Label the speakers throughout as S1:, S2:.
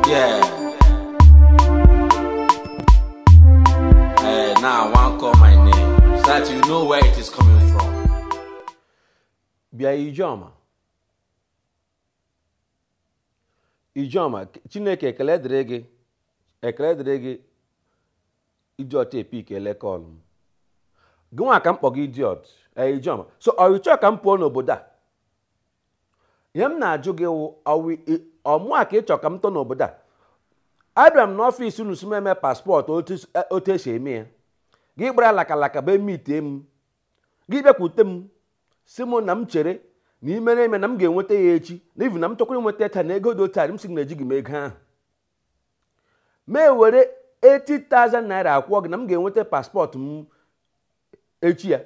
S1: Yeah. Hey, now I want call my name so that you know where it is coming from. Bịa Ijeọma. Ijeọma, Chineke ekele dịrị gị ekele dịrị gị idiot ị pickele call m. Gị nwa ka m kpọ gị idiot ee Ijeọma. So ọ ị chọọ ka m pụọ n'obodo a ihe m na-ajụ gị wụ ọ mụa ka ị chọ ka m tọ n'obodo a abịara m n'office unu sị m eme passport otu esi eme ya gị gbara lakalaka bịa meetie m gị bịakwute m sị m na m chere na ị mere eme na m ga-enweta ya echi na even na m chọkwara nweta ya taa na ego dị otu a m sị na ejighị m ego ahụ mụ ewere 80,000 naira akwụọ gị na m ga-enweta passport m echi ya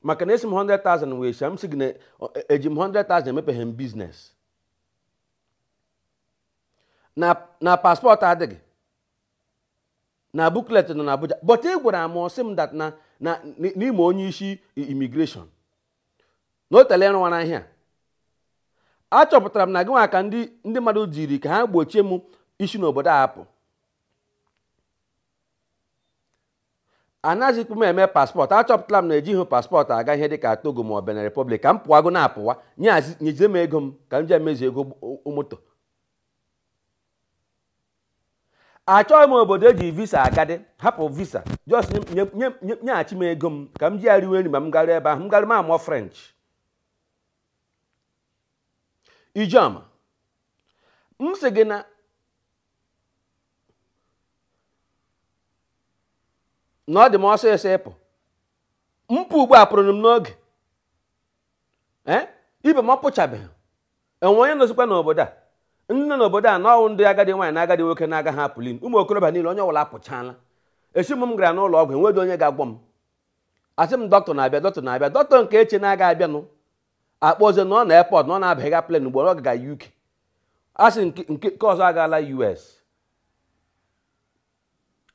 S1: maka na ị sị m 100,000 wee sha m sị gị na eji m 100,000 emepeghị m business na passport adịghị na booklet nọ na Abuja but ị gwara m sị m that na ị ma onye isi immigration na o teele ị rụwara ihe a achọpụtara m na gị nwa ka ndị mmadụ jiri ka ha gbochie m isi n'obodo a apụ anazikwa m eme passport achọpụtala m na ejighị passport aga ihe dị ka Togo ma ọ bụ Benin Republic ka m pụwago na-apụwa nyezie m ego m ka m ji emezu ego moto achọghị m obodo eji visa agadị hapụ visa just nyeghachi m ego m ka m ji ya riwe nri ma m garuo ebe ahụ m garuo m amụọ French Ijeọma m sị gị na na ọ dị m ọsịsọ ịpụ m pụ ugbu a apụrụ m n'oge ee ibe m ọ pụchabeghị o nwee onye nọzikwa n'obodo a ndị nọ n'obodo a na ọ wụ ndị agadi nwaanyị na agadi nwoke na-agaha apụli ụmụ okorobịa niile onye ọbụla apụchaala esi m m gara n'ụlọ ọgwụ enweghị onye ga-agwọ m a sị m doctor na-abịa doctor na-abịa doctor nke e che na ọ ga-abịanụ a kpọzie na ọ nọ airport na ọ na-abaga plane ugbu a ọ gaga UK a sị nke nke nke ọzọ agaala US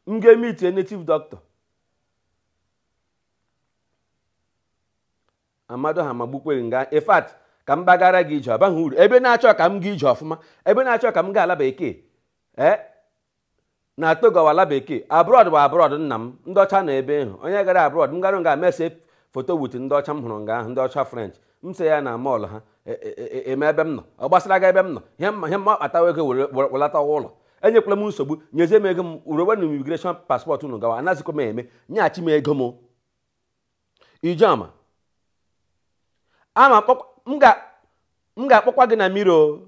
S1: m gaa meetie native doctor Amadịọha magbukwe gị nga in fact ka m gbaghara gị Ije ọ baghị uru ebe na-achọ ka m gaa ije ọfụma ebe na-achọ ka m gaa ala bekee ee na Togo wụ ala bekee abroad wụ abroad nna m ndị ọcha nọ ebe ahụ onye gara abroad m garu nga m esee foto with ndị ọcha m hụrụ nga ahụ ndị ọcha French m se ya na mall ha e- e- e- eme ebe m nọ ọ gbasara gị ebe m nọ ihe m ma ihe m ma kpatawa ego were- were- welatawa ụlọ enyekwala m nsogbu nyezie m ego m buruwenụ immigration passport unu gawa anazikwa m eme nyeghachi m ego m Ijeọma ama akpọkwa- m ga- m ga-akpọkwa gị na mmiri o